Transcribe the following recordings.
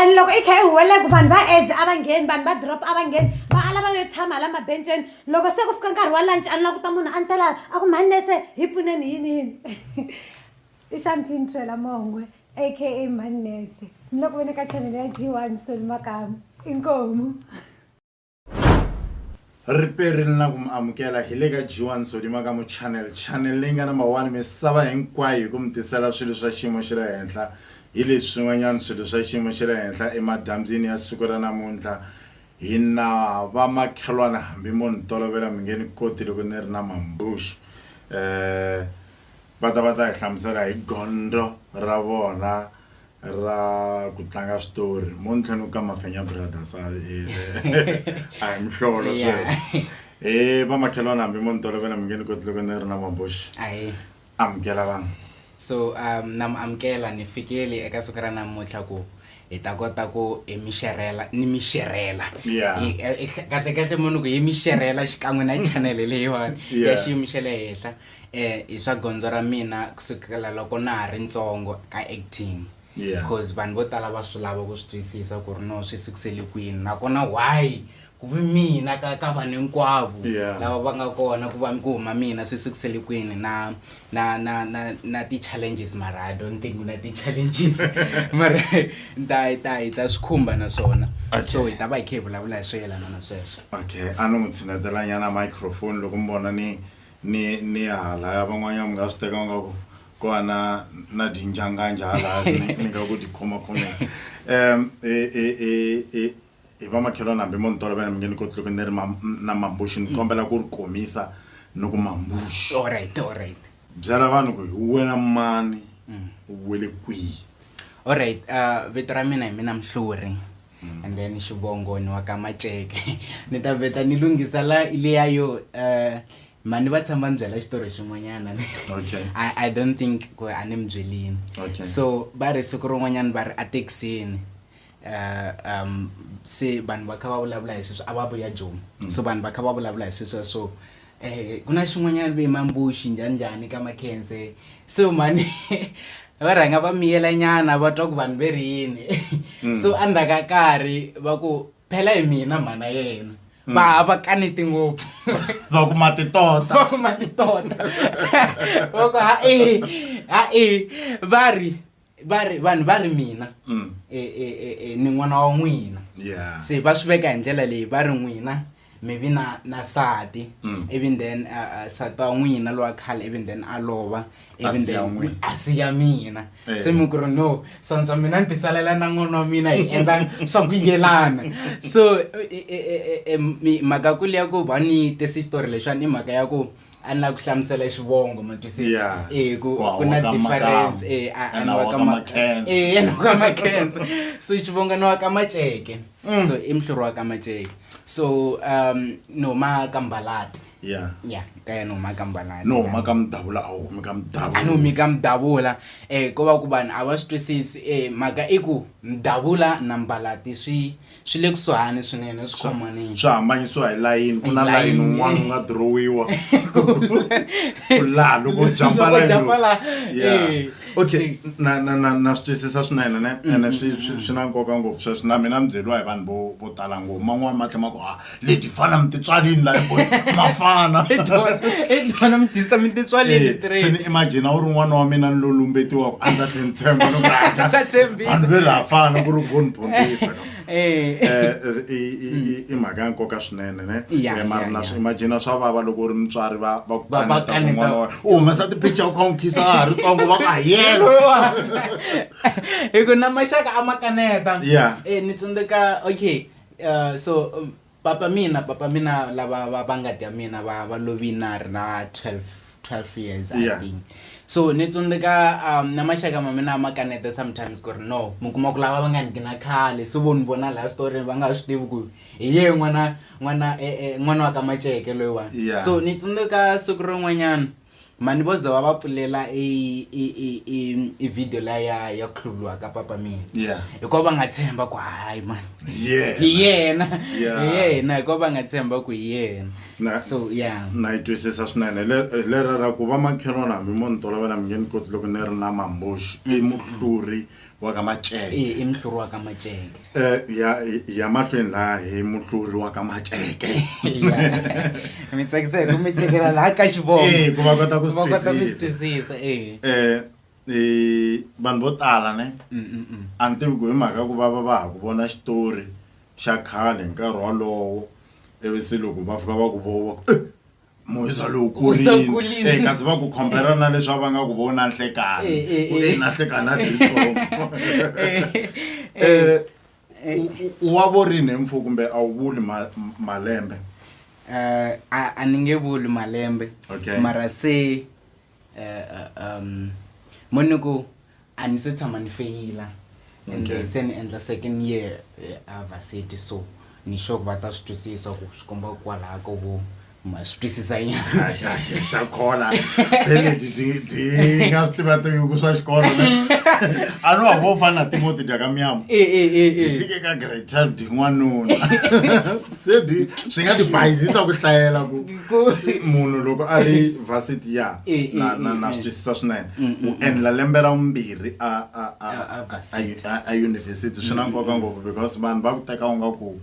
and loko i kha i huwelela ku vanhu va aids a va ngheni vanhu va drop a va ngheni va ala va yo tshama la mabenceni loko se ku fika nkarhi wa lunch a ni la ku ta munhu a ni tela a ku mhani nese hi pfuneni yini yini i xamfintrela mongwe aka mhani nese ni le ku veni ka chanele ya g one soli makamu inkomu ri perile na ku mi amukela hi le ka g1 sodima ka mu channel channel leyi nga na mawani misava hinkwayo hi ku mi tisela swilo swa xiyimo xa le henhla hi leswi swin'wanyana swilo swa xiyimo xa le henhla emadyambyini ya siku ra namuntlha hi na vamakhelwana hambi mo ni tolovela mi nge ni koti loko ni ri na mambuxu um Va ta va ta hi hlamusela hi gondzo ra vona ra ku tlanga switori mo ni tlhe ni ku ka mafenya brothers a hi mihlolo sweswo e vamakhelwana hambi mo ni tolovela mi nge ni koti loko ni ri na mambuxi amukela vanhu so um na mi amukela ni fikeli eka siku ra namuntlha ku hi ta kota ku hi mi xerhela ni mi xerhela kahlekahle mo ni ku hi mi xerhela xikan'we na chanele leyiwani ya xiyimo xa le henhla hi swa gondzo ra mina kusukela loko na ha ri ntsongo ka acting because yeah. vanhu vo tala va swi lava ku swi twisisa ku ri no swi sukisele kwini nakona why ku vi mina ka ka vanhu hinkwavo yeah. lava va nga kona ku va ku huma mina swi sukisele kwini na na na na na ti-challenges mara i don't think na ti-challenges mara ta ta hi ta swi khumba na swona okay. so hi ta va hi khe hi vulavula hi swo yelana na sweswo okay a no n'wi tshinatelanyana microphone loko mi vona ni ni ni halaya van'wanyana mi nga swi teka nga ku ko va na na dinjanganja halaya ni nga ku tikhomakhome um e, e, e, hi vamakhelwana hambi mo ni tolovela mi nge ni koti loko ni ri na mambuxi ni kombela ku ri komisa ni ku mambuxi byela vanhu ku hi wena mani mm. u wele kwihi olright uh, vito ra mina hi mina mhluri mm. and then xivongo ni wa ka maceke ni ta veta ni lunghisa la leya yo uh, mani va tshama ni byela xitori xin'wanyana okay. I, i don't think ku a ni mi byelini okay. so va ri siku rin'wanyana va ri ethekisini uh, um, se vanhu va kha va vulavula hi sweswo a va vuya jomi mm. so vanhu va kha va vulavula hi sweswo so Eh, ku na xin'wanyana ve mambuxi njhani njhani ka makhense so mani va rhanga va miyelanyana va twa ku vanhu ve ri yini mm. so endzhaku ka karhi va ku phela hi mina mhana yena mm. va hava kaneti ngopfu va kuma titota va kuma titota va ku ha-e ha-e va ri va ri vanhu va ri mina mm. e, e, e, e, ni n'wana wa n'wina yeah. se va swi veka hi ndlela leyi va ri n'wina mi vi na na sati mm. even then uh, uh, sati wa n'wina lowa khale even then a lova even then a siya mina hey. Eh. se mi ku ri no sontswa mina ni tisalela na n'wana wa mina hi endla swa ku yelana so e, e, e, mhaka ku leya ku va ni tesi xitori lexiwani i mhaka ya ku a na ku hlamusela xivongo ma twisisa Yeah. eh ku Ku hawa ku na ka difference makamu. eh a- a Ena na wa wa ka ka ma- Makenza. eh ena wa ka makenza so xivongo na wa ka maceke Mm. so i mhluri wa ka maceke so um no ma ka mbalati ya ya ka yena u ma ka mbalati no huma ka mudavula a wu humi ka mudavula a ni humi ka mudavula eh ko va ku vanhu a va swi twisisi eh mhaka i ku mudavula na mbalati swi swi le kusuhani swinene swi khomanini swi hambanyisiwa hi layini ku na layini un'wana u nga dirowiwa ku laha loko jampa layini okay na na na na swi twisisa swinene ne ene swi swi swi na nkoka ngopfu sweswi na mina ni byeriwa hi vanhu vo vo tala ngopfu man'wani ma tlhe ma ku ha leti fana mi titswalini la mafana itona mi tirhisa mi titswalini eh, straight ni imagine u ri n'wana wa mina ni lo lumbetiwaka a ndza tlheni tshemba loko vanhu ve laha fana ku ri von pontifa eh. eh, i mhaka ya nkoka swinene ne mara na swi imagina swa vava loko u ri mutswari va va ku kaneta n'wana wa u humesa tipicture u kha u nkhisa a ha ri tsongo va ku a yena hi ku na maxaka a ma kaneta ni tsundzeka okay Uh, so um, papa mina papa mina lava va va ngati ya mina va va lovini na ri na 12 12 years i Yeah. think so ni tsundzuka um, na maxaka ma mina ma kaneta sometimes ku ri no mi kuma ku lava va nga ni gina khale so vo ni vona laha switoreni va nga swi tivi ku hi ye n'wana n'wana eh, eh, n'wana wa ka maceke loyiwani Yeah. so ni tsundzuka siku rin'wanyana Mani vo za va va pfulela i i i i i video la ya ya ku hluvuriwa ka papa mina Yeah. hikuva va nga tshemba ku hayi mani Yeah. hi yena Yeah. hi yena hikuva va nga tshemba ku hi yena Na- so ya na yi twisisa swinene Le- eh, lera ra ku va makhelwana hambi mo ni tolovela mi nge ni koti loko ni ri na mambuxi i muhluri wa ka maceke ee i muhluri wa ka maceke um ya ya mahlweni laha hi muhluri wa ka maceke mi tsakisa hi ku mi chekela laha ka xivomo ee ku va kota ku swi va kota ku swi twisisa twisisa ee um i vanhu vo tala ne Mm, mm, mm. a ni tivi ku hi mhaka ku va va va ha ku vona xitori xa khale hi nkarhi wolowo ivi se loko va fika va ku vova moyisa lowu kurini kasi va ku khombela na leswi va nga ku vona nhlekani ku e na nhlekani a tiritsongo um wa vorini hi mfo kumbe a wu vuli malembe um a ni nge vuli malembe mara se eh, eh, um mo ni ku a ni se tshama ni feyila and Okay. se ni endla second year eh, a varsity so ni sure ku va ta swi twisisa ku swi komba kwalaha ko vo ma swi twisisa nyana xa khona peleti ti nga swi tivativi ku swa xikolo a no wa vo fana na timoti dya ka miyama Eh, eh, eh, eh. ti fike ka grade child n'wanuna se di swi nga ti bayizisa ku hlayela ku munhu loko a ri varsity ya eh, eh, na na eh, na swi twisisa swinene mm, mm, u mm. endla lembe ra vumbirhi a a a a a university swi na nkoka ngopfu because vanhu va ku teka u nga ku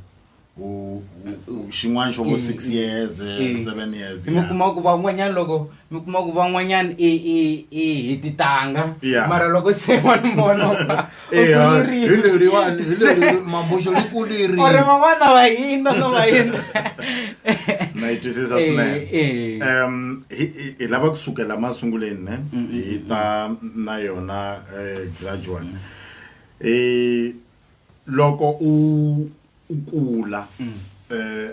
xin'wana xo vo six years seven years mi kuma ku van'wanyana loko mi kuma ku van'wanyana i i i hi titanga mara loko se wa ni vona eya hi kulerini. leriwani hi leri mambuxo ri ku leri or van'wana va hina ka va hina na yi twisisa Eh, swinene eh. um hi hi- hi lava kusukela masunguleni ne hi ta na yona eh, gradual um loko u u kula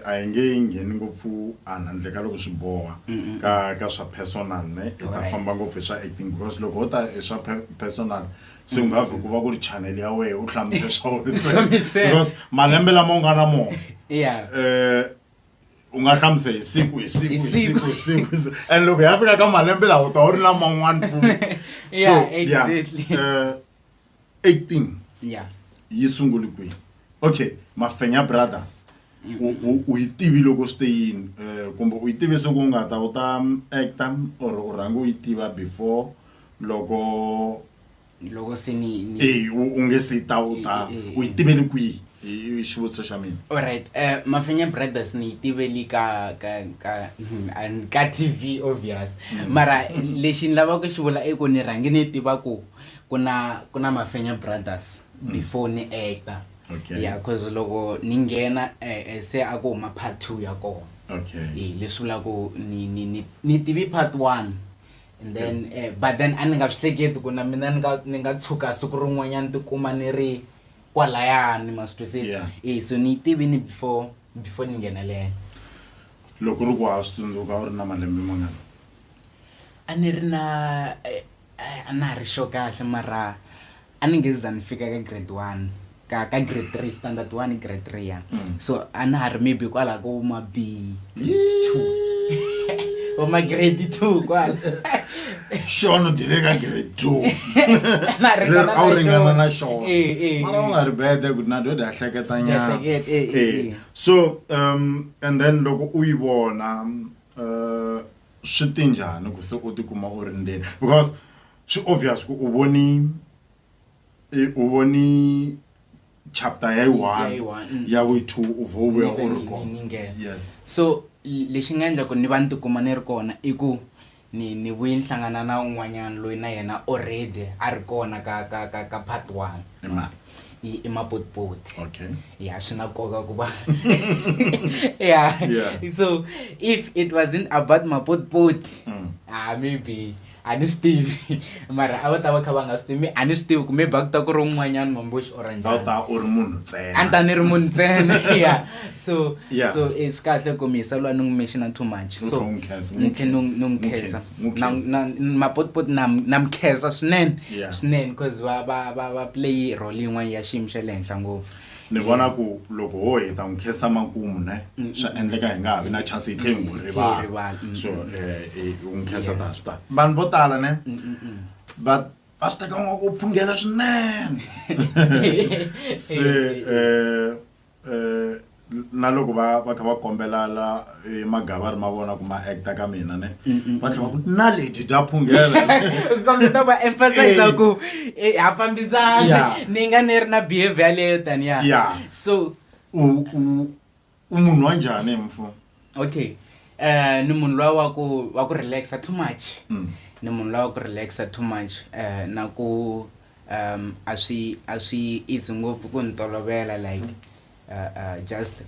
a hi nge yi ngheni ngopfu a handle ka loko swi boha ka ka swa personal ne hi ta famba ngopfu hi swa acting because loko ho ta hi swa personal se nga vhi ku va ku ri channel ya wena u hlamusela swa wena because malembe lama u nga na mona um u nga hlamusa hi siku hi siku hi siku hi siku and loko ya fika ka malembe lawa u ta u ri na man'wana futi so ya um 18 ya yi sunguli kwihi okay mafenya brothers u u- u yi tivi loko swi te yini um kumbe u yi tivi siku u nga ta u ta mm, acta or u rhange u yi tiva before loko loko se ni ni e u u nge se ta u ta Eh, eh, eh. u yi tivele kwihi i i xivutiso xa mina alright uh, mafenya brothers ni yi tiveli ka ka ka hmm, and ka tv obvious mara lexi ni lavaka ku xi vula i ku ni rhange ni tiva ku kuna kuna mafenya brothers mm. before ni actor okay. yeah cause loko ni nghena eh, eh, se a ku huma part two ya kona okay. eh, leswi vula ku ni, ni, ni, ni tivi part one and then okay. eh, but then a ni nga swi hleketi ku na mina ni nga tshuka siku rin'wanyana tikuma ni ri kwalayani ma swi twisisa yeah. eh, so ni yi tivini before before ni nghenelela loko ri ku wa swi tsundzuka u ri na malembe mangani a ni ri na eh, Ai a na ha ri sure kahle mara a ni nge za ni fika ka grade one ka ka grade three standard one grade three ya Mm. so a na ha ri maybe kwalaho ko ma b two or ma grade two kwala xona u dile ka grade two Na ha ringana leri a wu na ringana xona. na xona Eh, eh, mara u eh. nga ri bede ku na dode a hleketa nyana Jahleketa, eh, eh, Eh, eh. so um and then loko u yi vona uh, swi te njhani ku se u tikuma u ri ndzeni because swi obvious ku u voni u voni chapter ya yi-one mm. ya wi-two u vho u vuya u ri kona yes so lexi nga endla ku ni va ni tikuma ni ri kona i ku ni ni vuye ni hlangana na un'wanyana loyi na yena already a ri kona ka ka ka ka part one i i mabotiboti okay ya swi na nkoka ku va ya Yeah. so if it wasn't about mabotiboti Mm. ah maybe a ni swi tivi mara a va ta va kha va nga swi tivi mi- a ni swi tivi ku maybe a ku ta ku ri un'wanyana mamboxi or a wu njhani ta u ri munhu a ni ta ntsena ni ri munhu ntsena ya so yeah. so eh, swi kahle ku mi yisa lwa ni n'wi mexina too much so ni tlhe ni n'wi khensa mapotipoti na mi khensa swinene swinene because va va va va play role yin'wana ya xiyimo xa le henhla ngopfu ni vona ku loko ho heta n'wi khensa makumu ne mm, mm, swa mm. endleka hi nga ha vi na chance hi tlhe hi n'wi rivala so um u n'wi khensa ta swi ta vanhu vo tala ne va va swi teka n'wa ku phungela swinene se um na loko va va kha va kombela la eh, magavari ma vona ku ma acta ka mina ne va tlhela va ku na lady ta phunghela kambe ta va emphasize Eh. ku eh, ha fambisana Yeah. ni nga ni ri na behavior leyo taniya Yeah. so u u u munhu wa njhani mfo okay um ni munhu lowa wa ku wa ku relaxa too much mm. ni munhu lowa wa ku relaxa too much um na ku um a swi a swi easy ngopfu ku ni tolovela like uh, uh, just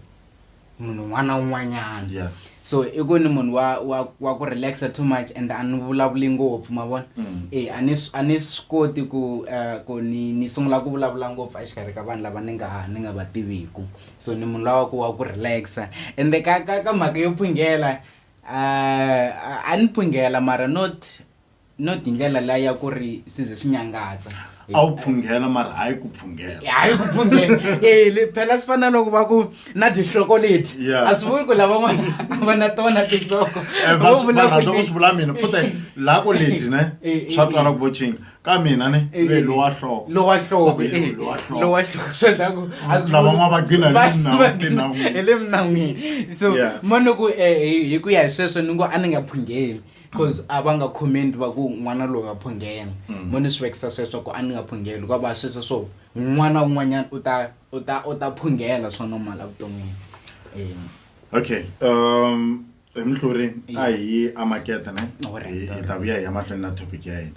munhu un'wana na un'wanyana yeah. so i ku ni munhu wa wa wa ku relaxa too much and a ni vulavuli ngopfu ma vona mm. e a ni a ni swi koti ku uh, ku ni ni sungula ku vulavula ngopfu exikarhi ka vanhu lava ni nga ni nga va tiviku so ni munhu lawa ku wa ku relaxa ende ka ka ka mhaka yo phungela uh, a ni phungela mara not not hi ndlela la ya ku ri swi ze swi nyangatsa a wu phunghela mara hayi ku phunghela hayi ku phunghela e phela swi fana loko va ku na tihloko leti a swi vuli ku lavan'wana a va na tona tinhloko eh, swi vula mina pfuta laha ku leti ne eh, eh, swa twala ku voching ka mina ne Eh, ve lowa hloko lowa hloko Okay, eh, lowa hloko. lowa hloko swi endla ku a swi Lava vuli- ma va gcina hi le va- minawini, va gcina tinawini. hi le minawini so Yeah. mo ni ku eh, hi hi ku ya hi sweswo ni ngo a ni nga phungeli cause a va nga comment va ku n'wana loyi wa phungela Mm. mo ni swi vekisa sweswo ku a ni nga phungeli ku va sweswo swo n'wana un'wanyana u ta u ta u ta phungela swo nomala vuton'wini Eh. okay um hi muhluri a hi amakete ne hi hi ta vuya hi ya mahlweni na topic ya hina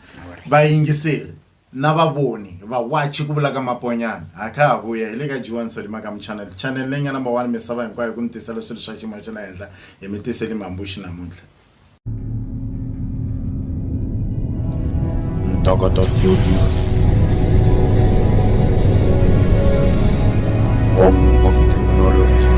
vayingiseri na vavoni vawachi ku vulaka maponyana ha kha ha vuya hi le ka jiwani solima ka muchanele chanele leyi nga number one misava hinkwayo ku mi tisela swilo swa xiyimo xa le henhla hi mi tiseli mambuxi namuntlha Ntokoto Studios. Home of technology.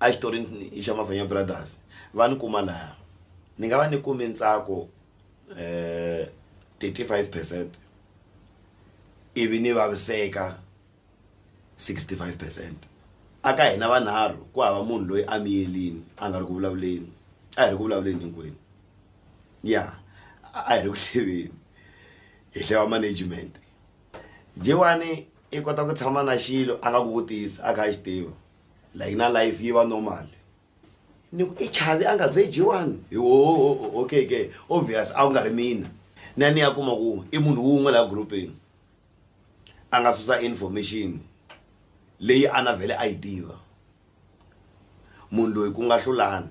a xitori i xa Mavhanya Brothers va ni kuma laha ni nga va ni kume ntsako thirty five percent ivi ni vaviseka sixty five percent a ka hina vanharhu ku hava munhu loyi a miyerile a nga ri ku vulavuleni a hi ri ku vulavuleni hinkwenu ya a hi ri ku hluleni hi hlaya management Jewani i kota ku tshama na xilo a nga ku vutisa a kha a xi tiva. like na life yi va normal ni ku i chavi a nga bye jiwani hi woho okay ke obvious a wu nga ri mina na ni ya kuma ku i munhu wun'we laha groupini a nga susa information leyi a na vhele a yi tiva munhu loyi ku nga hlulani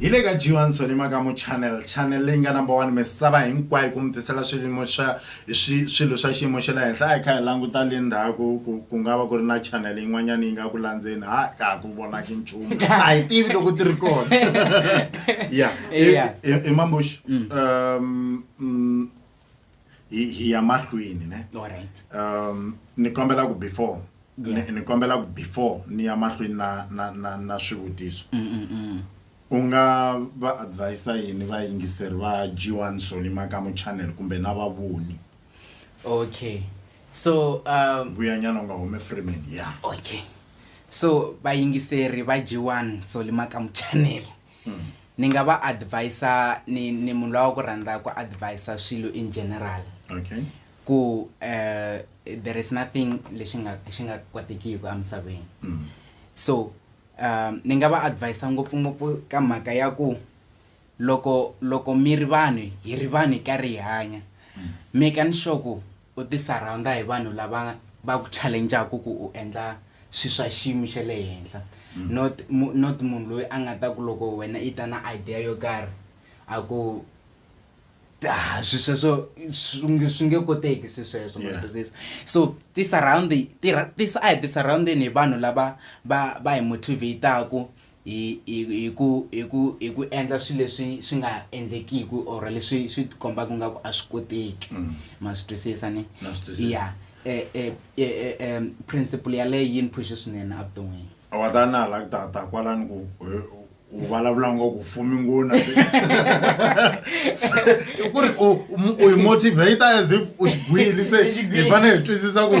hi le ka johanson makamu channel channel leyi nga number one misava hinkwayo ku mi tisela swiyimo swa swilo swa xiyimo xa le henhla a hi kha hi languta le ndzhaku ku ku nga va ku ri na channel yin'wanyana yi nga ku landzeni ha ka ha ku vonaki nchumu a hi tivi loko ti ri kona ya i mambuxi mm. um mm, hi hi ya mahlweni ne um ni kombela ku before ni kombela ku before ni ya mahlweni na na na na swivutiso mm, mm, mm. u nga va advisa yini vayingiseri va g1 solima ka muchannel kumbe na vavoni okay so um, vuyanyana u nga hume freeman ya yeah. okay so vayingiseri va g1 solima ka muchannel mm. ni nga va advisa ni, ni munhu lowa ku rhandza ku advisa swilo in general okay. ku uh, there is nothing lexi nga xi nga kotekiki emisaveni mm. so um ni nga va advisa ngopfungopfu ka mhaka ya ku loko loko mi ri vanhu hi ri vanhu hi karhi hi hanya mm. make ni sure ku U tisaraunda hi vanhu lava va ku challenjaku ku u endla swi swa xiyimo xa le henhla not not munhu loyi a nga ta ku loko wena i ta na idea yo karhi a ku ha swi sweswo swi nge koteki swi sweswo ma twisisa so ti-surround a hi ti-surround-eni hi vanhu lava va va hi motivate-aku hi hi hi ku hi ku hi ku endla swilo leswi swi nga endlekiki or leswi swi tikombaka nga ku a swi koteki mm. ma swi twisisa ni ya eh, eh, eh, principle yaleyo yi ni phushe swinene evuton'wini wa ta na hala ku ta ta kwalani ku u vulavula ngo ku fumi ngona ku ri u yi motivate as if u xigwili se hi fanele hi twisisa ku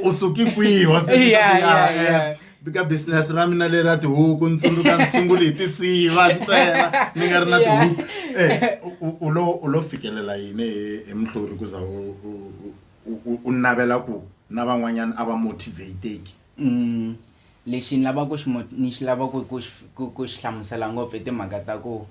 u suki kwihi wa sukisa vika business ra mina leri ra tihuku ni tsundzuka ni sungule hi tinsiva ntsena ni nga ri na tihuku eh, u lo u lo fikelela yini hi muhluri ku za u navela ku na van'wanyana a va motivateki mm, lexi ni lavaka ku xi ni xi lavaka ku xi hlamusela ngopfu i timhaka ta ku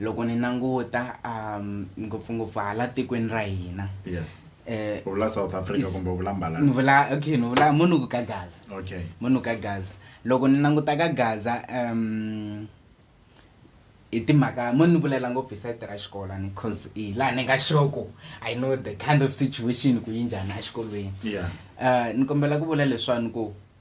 loko ni languta um ngopfungopfu hala tikweni ra hina yes eh, u vula south africa Is- kumbe u vula mbalani ni vula okay ni vula munuku ka gaza okay munuku ka gaza loko ni languta ka gaza um i timhaka mo ni vulela ngopfu hi sayiti ra xikolo ni cause hi laha ni nga xoko i know the kind of situation ku yi njhani exikolweni yeah uh, ni kombela ku vula leswani ku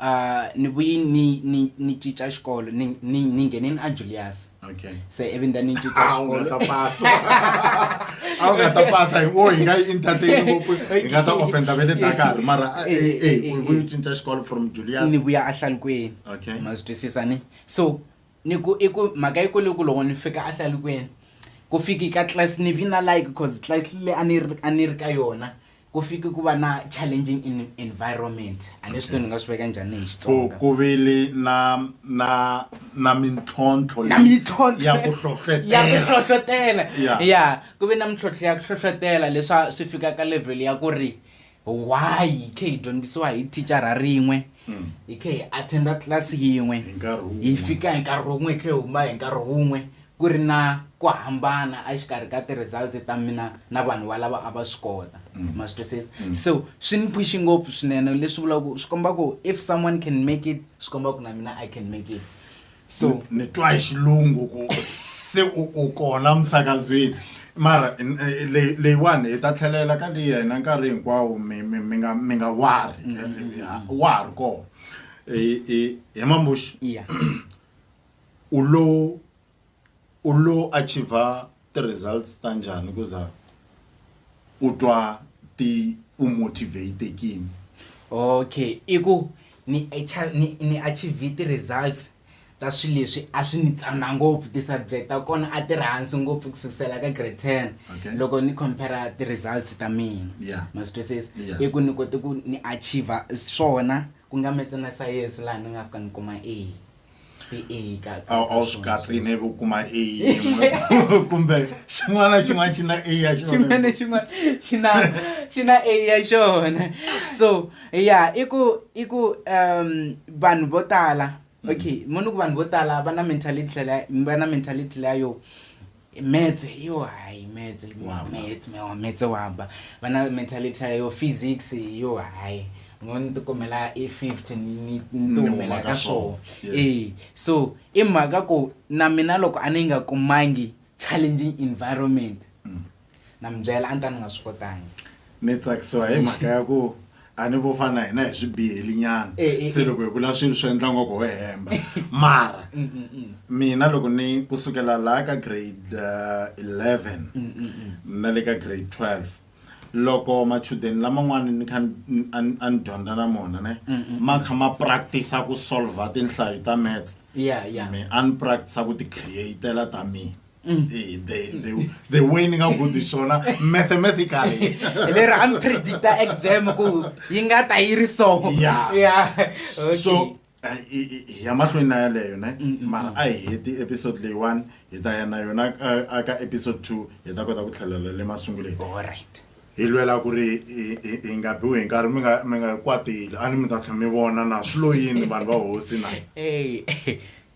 A ni vuyi ni ni ni cinca xikolo ni ni ni nghene ni a Julius okay se ivi nda ni cinca ah, xikolo ta pasa a wu nga ta pasa hi ngo hi nga yi entertain ngopfu hi nga ta offenda ve le Dakar mara eh eh, eh, eh u vuyi eh. cinca xikolo from Julius ni vuya a hlalukweni okay ma swi twisisa ni so ni ku i ku mhaka yi ku loko loko ni fika a hlalukweni ku fiki ka class ni vina like cause class le a ni a ni ri ka yona ku fike ku va na challenging in environment a leswi to ni nga swi veka njhani hi xitsonga ku vile na na na mintlhontlho na mintlhontlho ya ku hlohlotela ya ku hlohlotela ya ku ve na mintlhontlho ya ku hlohlotela leswa swi fika ka level ya ku ri why hi khe hi dyondzisiwa hi thicara rin'we hmm. hi khe hi attenda tlilasi yin'we hi fika hi nkarhi wun'we hi tlhe hi huma hi nkarhi wun'we Ku ri na ku hambana exikarhi ka ti-results ta mina na vanhu valava a va swi kota. Ma swi twisisa? So swi ni pfuxi ngopfu swinene leswi vulaka ku swi komba ku if someone can make it swi komba ku na mina I can make it. So Ni twa hi xilungu ku se u u kona emisakazweni mara leyi leyiwani hi ta tlhelela ka leyi ya hina nkarhi hinkwawo mi mi mi nga mi nga worry wa ha ri kona. He ma Muxi? Iya. U lo u lo achiever ti-results ta njhani ku za u twa ti u motivate-ekini? Okay, i ku ni acha ni ni achiever ti-results ta swilo leswi a swi ni tsana ngopfu ti-subject ta kona a ti ri hansi ngopfu ku sukusela ka grade ten Okay. loko ni compare-a ti-results ta mina Yeah. ma swi twisisa Yeah. i ku ni kote ku ni achiever swona ku nga metse na sayense laha ni nga fika ni kuma A. a wu swi katsi ne u kuma a yin'we kumbe xin'wana na xin'wana xi na a ya xona na xin'wana xi na xi na a ya xona so ya i ku i ku um vanhu vo tala okay mo ni ku vanhu vo tala va na mentality va na mentality leya yo metse yo hayi metse metse mewa metse wa ba va na mentality yo physics yo hayi ngo ni tikumela i 50 ni ni tikumela ka swona e so i mhaka ku na mina loko a ni nga kumangi challenging environment mm. na mi byela a ni ta ni nga swi kotangi Ni tsakisiwa hi mhaka ya ku a ni vo fana na hina hi swibiheli nyana eh, eh, se eh. loko hi vula swilo swi endla ngoko ho hemba mara mm, mm, mm. mina loko ni kusukela laha ka grade uh, 11 mm, mm, mm. na le ka grade 12 loko machudeni laman'wana ni kha a ni dyondza na mona ne ma kha ma practice-a ku solve-a tinhlayo ta mats me a ni practice-a ku ti-createla ta mina Mm. They, they, they, they winning a good swona mathematically le ra am predict exam ku yi nga ta yi ri so yeah yeah okay. so ya mahlweni na yaleyo ne mm, mm, mara a hi heti episode leyi one hi ta ya na yona aka episode two hi ta kota ku tlhelela le masunguleni allright hi lwela ku ri hi nga biwi hi nkarhi mi nga mi nga kwatile a ni mi ta tlhe mi vona na swi loyini vanhu va hosi na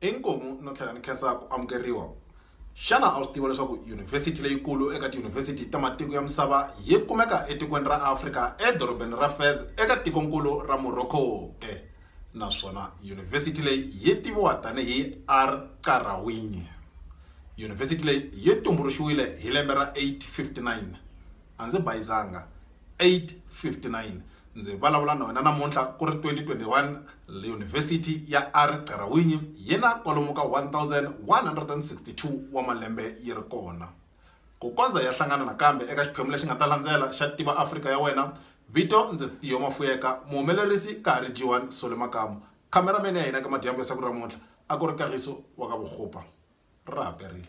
Inkomu no tlhela ni khensa ku amukeriwa. Xana a wu swi tiva leswaku yunivhesiti leyikulu eka tiyunivhesiti ta matiko ya misava yi kumeka etikweni ra Afrika edorobeni ra Fez eka tikonkulu ra Morocco ke? Naswona yunivhesiti leyi yi tiviwa tanihi Al Qarawiyyin. Yunivhesiti leyi yi tumbuluxiwile hi lembe ra 859. A ndzi bayizanga, 859 ndzi vulavula na wena namuntlha ku ri 2021 yunivhesiti ya ari qarawinyi yi na kwalomu ka 1162 wa malembe yi ri kona ku kondza ya hlangana nakambe eka xiphemu lexi nga ta landzela xa tiva afrika ya wena vito ndzi thiyo mafuyeka muhumelerisi ka ha ri jiwan sole makamu cameraman ya hina ka madyambu ya siku ra muntlha a ku ri kagiso wa ka vukhupa ra haperile